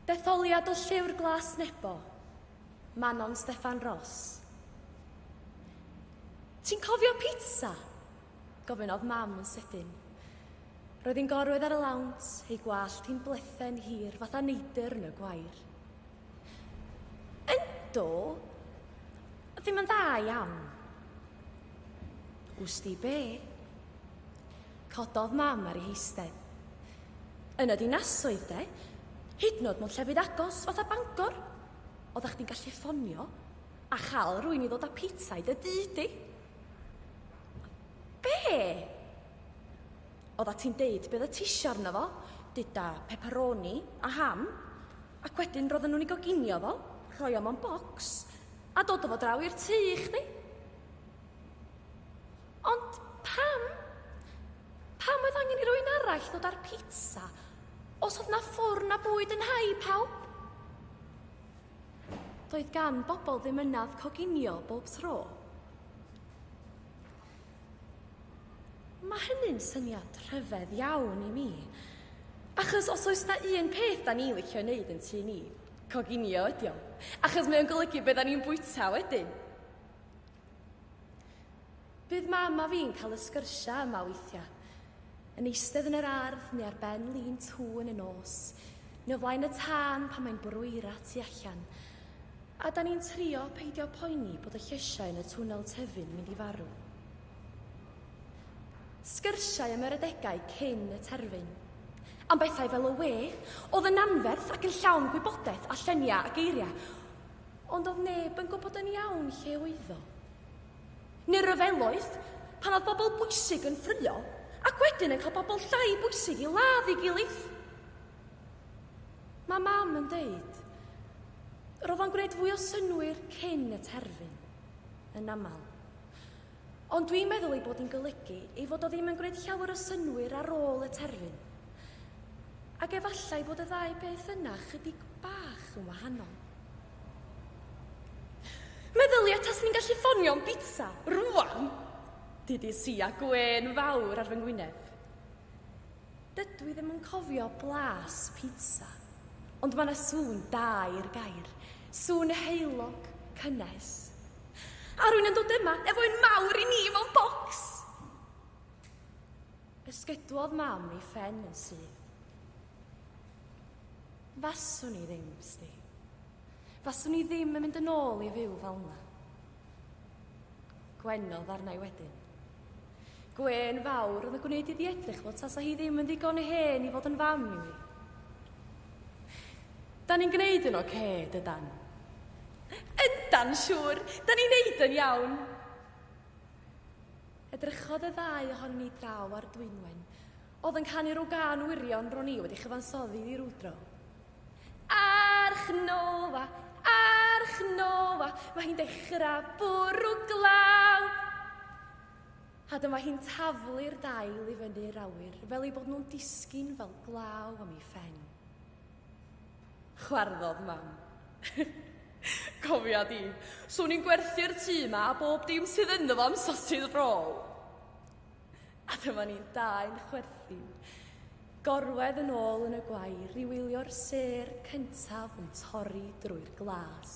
Detholiad o Llyfr Glas Nebo, Manon Steffan Ros. Ti'n cofio pizza? Gofynnodd mam yn sydyn. Roedd hi'n gorwedd ar y lawnt, ei gwallt hi'n blethen hir fatha neidr yn y gwair. Ynddo, ddim yn dda iawn. Wsti be? Cododd Mam ar ei heistedd. Yn y dinasoedd de, hyd nod mewn llefydd agos fatha Bangor, oeddach chdi'n gallu ffonio a chael rwy'n i ddod â pizza i dy dŷ di. Be? Oedda ti'n deud beth y tisio arno fo, duda pepperoni a ham, ac wedyn roedden nhw'n ei goginio fo, rhoi o mewn bocs, a dod o fo draw i'r tŷ i chdi. Ond pam? Pam oedd angen i rwy'n arall ddod â'r pizza? Os oedd na ffwrn a bwyd yn hau pawb? Doedd gan bobl ddim ynaf coginio bob tro. Mae hynny'n syniad rhyfedd iawn i mi. Achos os oes na un peth da ni'n licio wneud yn tu ni, coginio ydi o. Achos mae o'n golygu beth da ni'n bwyta wedyn. Bydd mam a fi'n cael y sgyrsiau yma weithiau. Yn eistedd yn yr ardd neu ar ben lin tŵn y nos, neu o flaen y tân pan mae'n bwrw eira tu allan. A 'dan ni'n trio peidio poeni bod y llysiau yn y twnnel tyfu'n mynd i farw. Sgyrsiau am yr adegau cyn y terfyn. Am bethau fel y we oedd yn anferth ac yn llawn gwybodaeth a lluniau a geiriau. Ond doedd neb yn gwybod yn iawn lle oeddo. Neu ryfeloedd, pan oedd bobl bwysig yn ffrio, ac wedyn yn cael bobl llai bwysig i ladd ei gilydd. Mae mam yn deud, roedd o'n gwneud fwy o synwyr cyn y terfyn, yn aml. Ond dwi'n meddwl ei bod hi'n golygu ei fod o ddim yn gwneud llawer o synnwyr ar ôl y terfyn. Ac efallai bod y ddau beth yna chydig bach yn wahanol. Meddylia tas ni'n gallu ffonio'n bita, rwan! Did you see a gwên fawr ar fy ngwyneb? Dydw i ddim yn cofio blas pizza, ond mae 'na sŵn da i'r gair, sŵn heulog, cynnes. A rwy'n yn dod yma efo un mawr i ni mewn bocs! Ysgydwodd mam ei phen yn syth. Faswn i ddim, Sti. Faswn i ddim yn mynd yn ôl i fyw fel 'na. Gwenodd arna i wedyn. Gwên fawr oedd yn gwneud iddi edrych fel tasa hi ddim yn ddigon hen i fod yn fam i mi. Da ni'n gwneud yn oce, okay, dydan? Yndan, siŵr, da ni'n neud yn iawn. Edrychodd y ddau ohon ni draw ar Dwynwen. Oedd yn canu rhyw gan wirion ro'n i wedi chyfansoddi ddi rwydro. Arch Noa, Arch Noa, mae hi'n dechrau bwrw glaw. A dyma hi'n taflu'r dail i fyny'r awyr fel ei bod nhw'n disgyn fel glaw am ei phen. Chwarddodd mam. Cofia di, swn i'n gwerthu'r tŷ yma a bob dim sydd ynddo fo am sasydd rôl. A dyma ni'n dau yn chwerthin. Gorwedd yn ôl yn y gwair i wylio'r sêr cyntaf yn torri drwy'r glas.